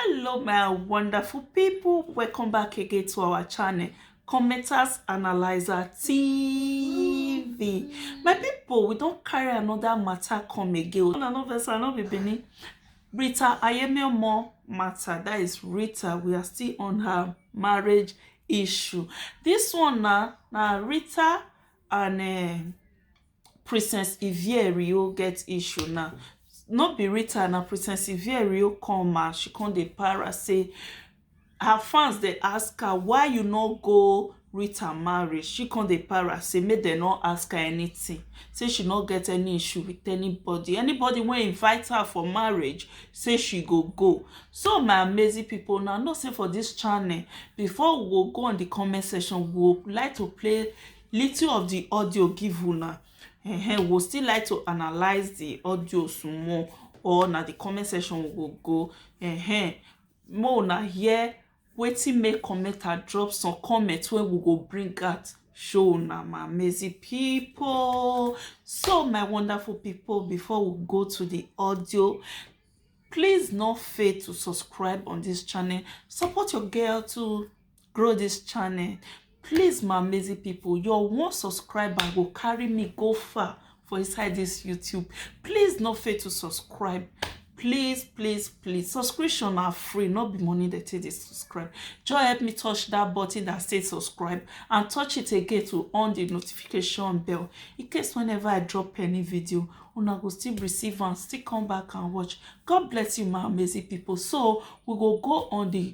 hello my wonderful people welcome back again to our channel commenters analyzer tv my people we don't carry another matter come again una no vex i no be benin rita ayemiomo matter that is rita we are still on her marriage issue this one na na rita and uh, Princess Ivierio get issue now. No be Rita, na Princess Ivierio come and she come dey para say her fans dey ask her why you no go Rita marriage. She come dey para say make dem no ask her anything. Say she no get any issue with anybody. Anybody wey invite her for marriage, say she go go. So my amazing people, now know say for this channel, before we go go on the comment section, we would like to play little of the audio give una um, we'll still like to analyze the audio some more or na the comment section we go go um, more na hear wetin make commenter drop some comment wey we go bring out show na my amazing people so my wonderful people before we go to the audio please no fail to subscribe on this channel support your girl too grow this channel please my amazing people your one subscriber will carry me go far for inside this youtube please no fail to subscribe please please please subscription are free not be money that take dey subscribe just help me touch that button that says subscribe and touch it again to on the notification bell in case whenever i drop any video una go still receive and still come back and watch god bless you my amazing people so we go go on the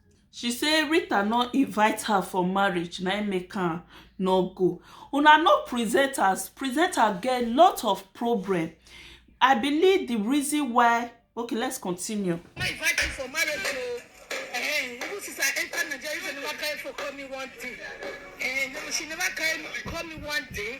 She say Rita no invite her for marriage na im make am no go. Una know presenters, presenter get lot of problem. I believe the reason why okay let's continue. I invite you for marriage o. Eh, even since I enter Nigeria, you never carry for call me one day. Eh, no, she never carry call me one day.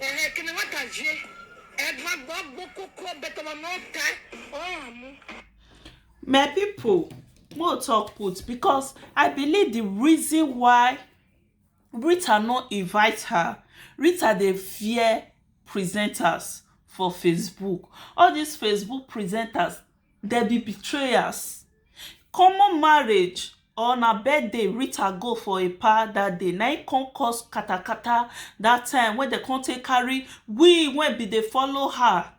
Ehe, kini wa ta vie edwa gbo gbo koko beto wa no ta oh mu. my people mo talk put because i believe the reason why rita no invite her rita dey fear presenters for facebook all these facebook presenters Dem be betrayers. Common marriage or na birthday Rita go for a pa dat day na im come cause katakata dat time wey dem come take carry we wey be dey follow her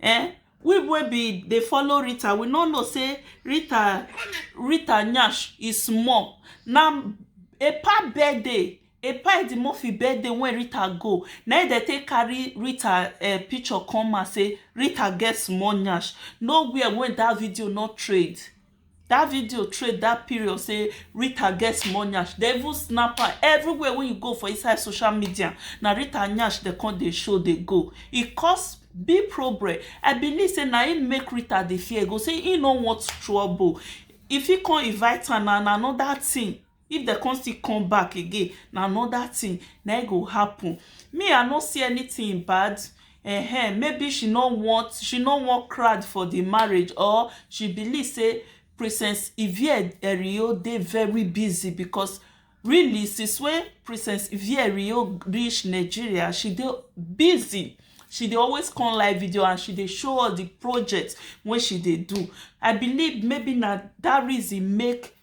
um we wey be dey follow Rita we no know sey Rita Rita nyash e small na a pa birthday Epa Edimoffi birthday wey Rita go na im dem take carry Rita um picture come out say Rita get small nyash. No where wey dat video no trade. Dat video trade dat period say Rita get small nyash. Dem even snap am. Everywhere wey you go for inside social media, na Rita nyash dem come dey show dey go. E cause big problem. I believe say na im make Rita dey fear go, say im no want trouble. E fit come invite am na na another thing. if dem come still come back again na another thing na im go happen me I no see anything bad um maybe she no want she no want crowd for the marriage or she believe sey princess Yvie Erio dey very busy because really since wey princess Yvie Erio reach Nigeria she dey busy she dey always come live video and she dey show all the project wey she dey do I believe maybe na that reason make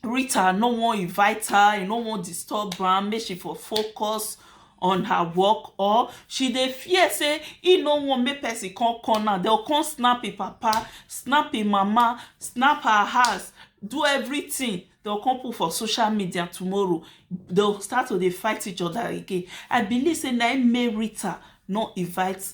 Rita no wan invite her, e no wan disturb am make she for focus on her work or she dey fear sey e no wan make person come come now, dem go come snap im papa, snap im mama, snap her house, do everything. Dem go come put for social media tomorrow. Dem go start to dey fight each other again. I believe sey na im make Rita no invite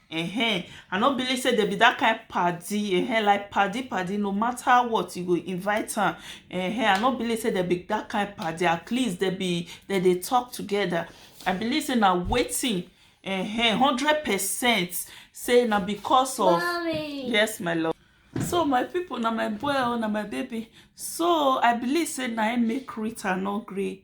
Ehen, I no believe say dem be that kind paddy ehen like paddy paddy no matter what you go invite am ehen I no believe say dem be that kind paddy at least dem be dem dey talk together I believe say na wetin ehen hundred percent say na because of Mommy. yes my love so my people na my boy oh na my baby so I believe say na him make Rita no gree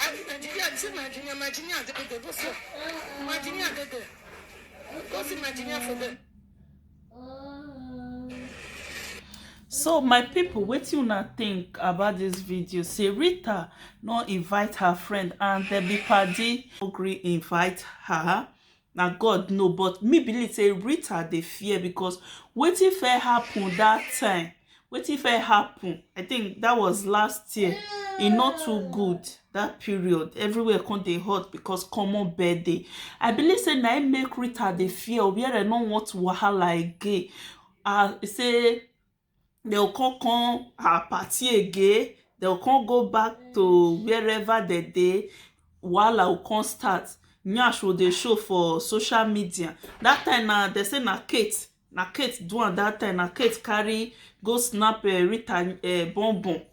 Ah, Virginia, this is Virginia, Virginia, the big boss. Virginia, the big. Go see Virginia for them. so my people, what you not think about this video say rita no invite her friend and dem be padi no gree invite her Na God know but me believe say Rita dey fear because wetin first happen that time, wetin first happen, I think that was last year, e no too good that period. Everywhere come dey hot because common birthday. I believe say na im make Rita dey fear Obiere no want wahala again. Uh, say dey go come come her party again, dey go come go back to wherever dey dey, wahala go come start, nyash go dey show for social media. Dat time na, dey say na Kate, na Kate do am dat time, na Kate carry go snap um Rita um bum bum.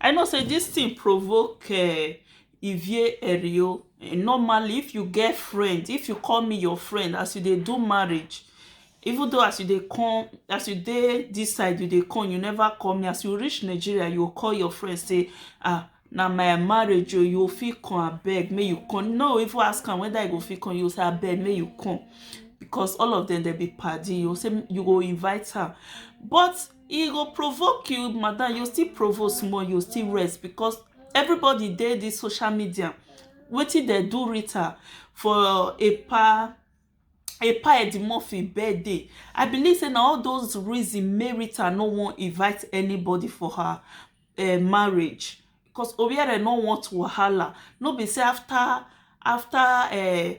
I know say this thing provoke uh, Ivie Erio. Eh, normally, if you get friend, if you call me your friend, as you they do marriage, even though as you they come, as you dey this side, you they come, you never call me. As you reach Nigeria, you call your friend, say, ah, na my marriage o oh, you fit come abeg make you come no even ask am whether you go fit come you say abeg make you come because all of them dey be padi you say you go invite her but e go provoke you madam you still provoke small you still rest because everybody dey this social media wetin dem do Rita for a pa a pa Edimurphy birthday I believe say na all those reason make Rita no wan invite anybody for her uh, marriage because Obiere no want wahala no be say after after uh,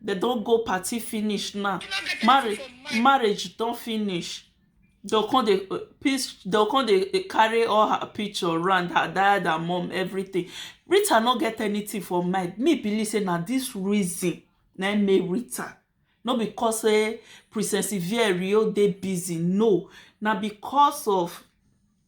dem don go party finish now marriage marriage don finish dem come dey dem come dey carry all her picture round her dad her mum everything Rita no get anything for mind me believe say na this reason na im make Rita no be cause say Princess Ivieri dey busy no na because of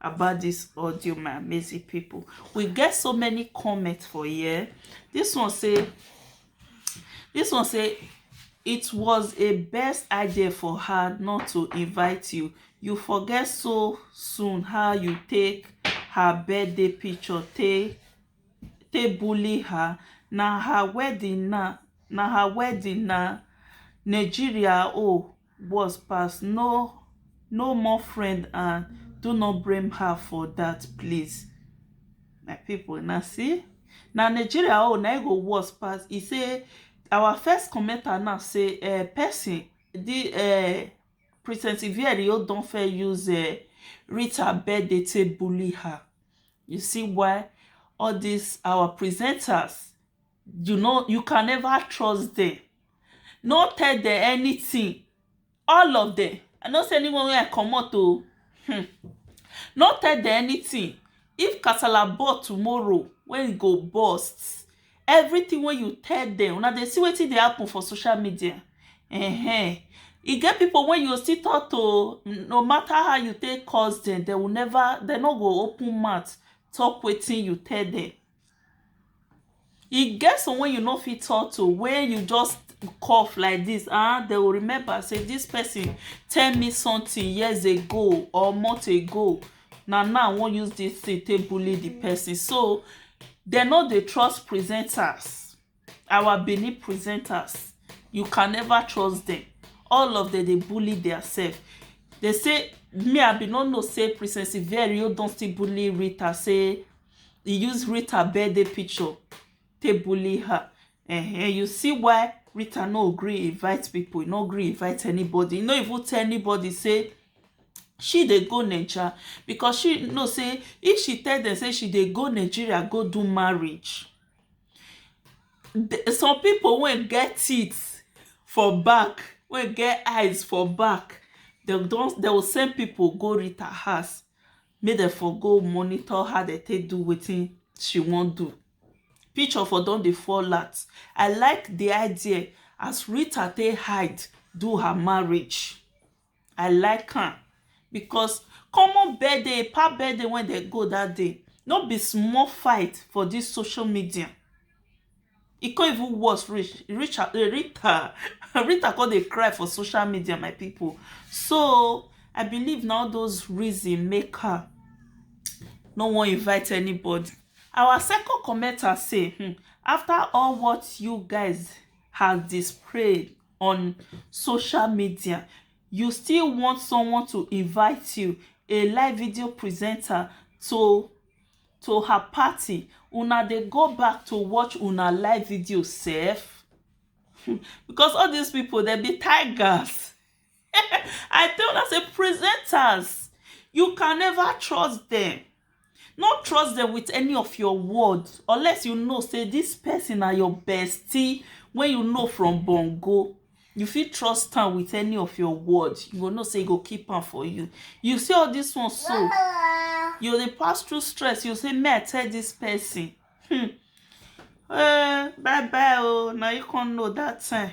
about this audio my amazing people we get so many comments for here this one say this one say it was a best idea for her not to invite you you forget so soon how you take her birthday picture take take bully her na her wedding na na her wedding na nigeria oh worse pass no no more friend and do not blame her for that please my people now see now nigeria oh now e go worse pass He say our first commenter now say uh, person the uh, princess ivieri don fair use uh, rita birthday to bully her you see why all these our presenters you no you can never trust them no tell them anything all of them i no say anyone wey i comot o um no tell them anything if kasala ball tomorrow wey e go burst everything wey you tell them una dey see wetin dey happen for social media um e get people wey you go still talk to no matter how you take curse them they will never they no go open mouth talk wetin you tell them E get some wey you no fit talk to wey you just cough like this um they will remember say this person tell me something years ago or months ago na now I wan use this thing take bully the person so they no dey trust presenters our benin presenters you can never trust them all of them dey bully their self they say me i bin no know say princess iverio don still bully rita say he use rita birthday picture take bully her uh-huh. you see why rita no gree invite people no gree invite anybody no even tell anybody say she dey go naija because she know say if she tell them say she dey go nigeria go do marriage some people wey get teeth for back wey get eyes for back dem don dem go send people go Rita house make dem for go monitor how dem take do wetin she wan do picture for don dey fall out I like the idea as Rita take hide do her marriage I like am because common birthday, pa birthday wey dey go that day, no be small fight for this social media. E come even worse reach, Rita Rita come dey cry for social media my pipu. So I believe na all those reason make her no wan invite anybody. Our second commenter say um after all what you guys has displayed on social media you still want someone to invite you a live video presenter to to her party una dey go back to watch una live video sef because all these people dem be tigers I tell una say presenters you can never trust them no trust them with any of your word unless you know say this person na your bestie wey you know from bongo you fit trust am with any of your word you go know say e go keep am for you you see all this one so you dey pass through stress you say may i tell this person hmm. uh, bye bye oh now you can't know that time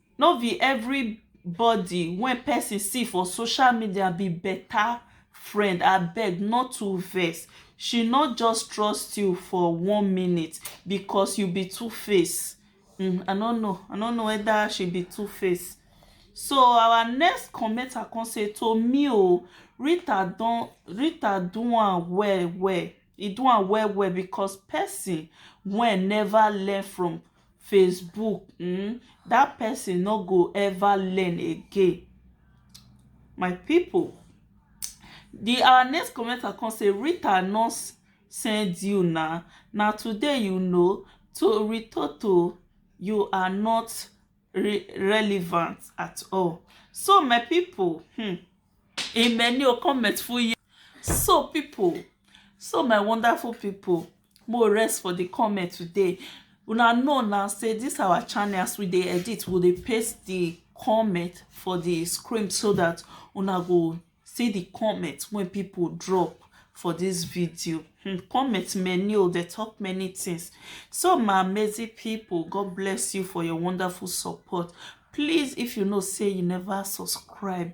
No be everybody wey person see for social media be better friend abeg no too vex she no just trust you for one minute because you be two face um I no know I no know whether she be two face so our next commenter come say to me o Rita don Rita do am well well e do am well well because person wey never learn from Facebook um that person no go ever learn again my people the our next commenter come say Rita no send you na na today you know to Ritoto you are not re relevant at all so my people hmm, in many comments for you so people so my wonderful people more rest for the comment today una know now say this our channel as we dey edit we dey paste the comment for the screen so that una go see the comment when people drop for this video hmm, comment many oh they talk many things so my amazing people god bless you for your wonderful support please if you know say you never subscribe